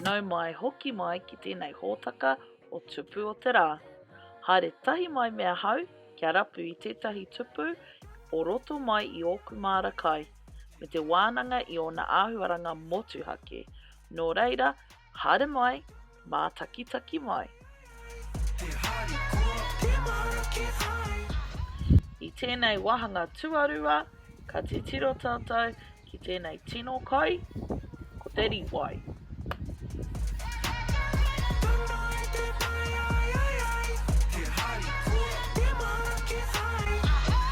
Nau mai, hoki mai ki tēnei hōtaka o Tupu o te Rā. Haere tahi mai me ahau kia rapu i tētahi tupu o roto mai i ōku māra kai, me te wānanga i ōna āhuaranga motuhake. Nō reira, haere mai! mātakitaki mai. I tēnei wāhanga tuarua, ka titiro tātou ki tēnei tino kai, ko te rīwai.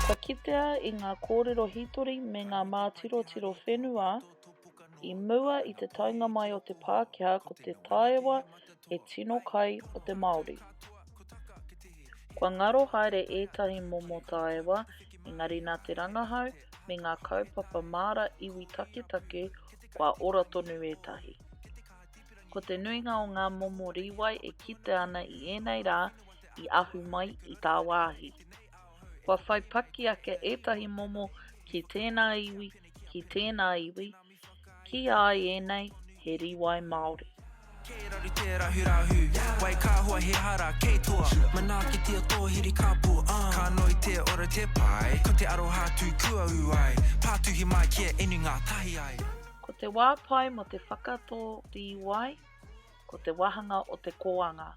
Kua kitea i ngā kōrero hītori me ngā mātirotiro whenua, I mua i te taenga mai o te Pākehā ko te taewa he tino kai o te Māori. Kua ngaro haere ētahi momo taewa, engari nā te rangahau me ngā kaupapa māra iwi taketake kua ora tonu ētahi. Ko te nuinga o ngā momo rīwai e kite ana i ēnei rā i ahu mai i tāwāhi. Kua whai paki ake ētahi momo ki tēnā iwi ki tēnā iwi, ki a i ēnei he rīwai Māori. Kei raru te rahurahu, wai ka hua he hara kei tua Manaakitia tō hiri ka pū ah Ka noi te ora te pai, ko te aroha tū kua ū ai Pātuhi mai ki a inu ngātahi ai. Ko te wā pai mō te whakatō rīwai ko te wāhanga o te kōanga.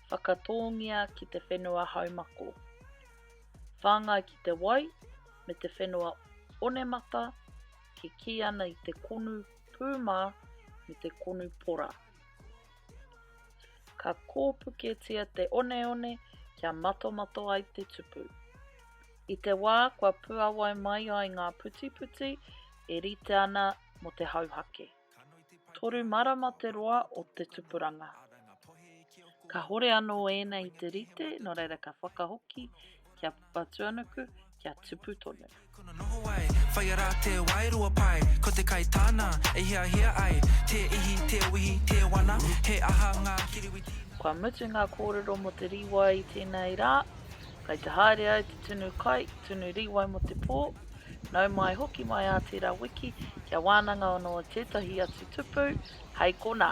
Whakatōngia ki te whenua haumako. whāngai ki te wai me te whenua onemata e kī ana i te konu pūmā me te konu pora. Ka kōpuketia te oneone kia matomato ai te tupu. I te wā kua puawai mai ai ngā putiputi e rite ana mō te hauhake. Toru marama te roa o te tupuranga. Kahore anō ēnei i te rite, nō reira ka whakahoki ki a Papatuanuku kia tupu tonu. Kono noho ai, whai ara te wairua pai Ko te kai tāna e hiahia ai Tē ihi, tē wihi, tē wana He aha ngā kiriwiti nā? Kua mutu ngā kōrero mō te rīwai i tēnei rā. Kai te haere ai te tunu kai, tunu rīwai mō te pō, Nau mai hoki mai ā tērā wiki kia wānanga anō tētahi atu tupu, hei konā.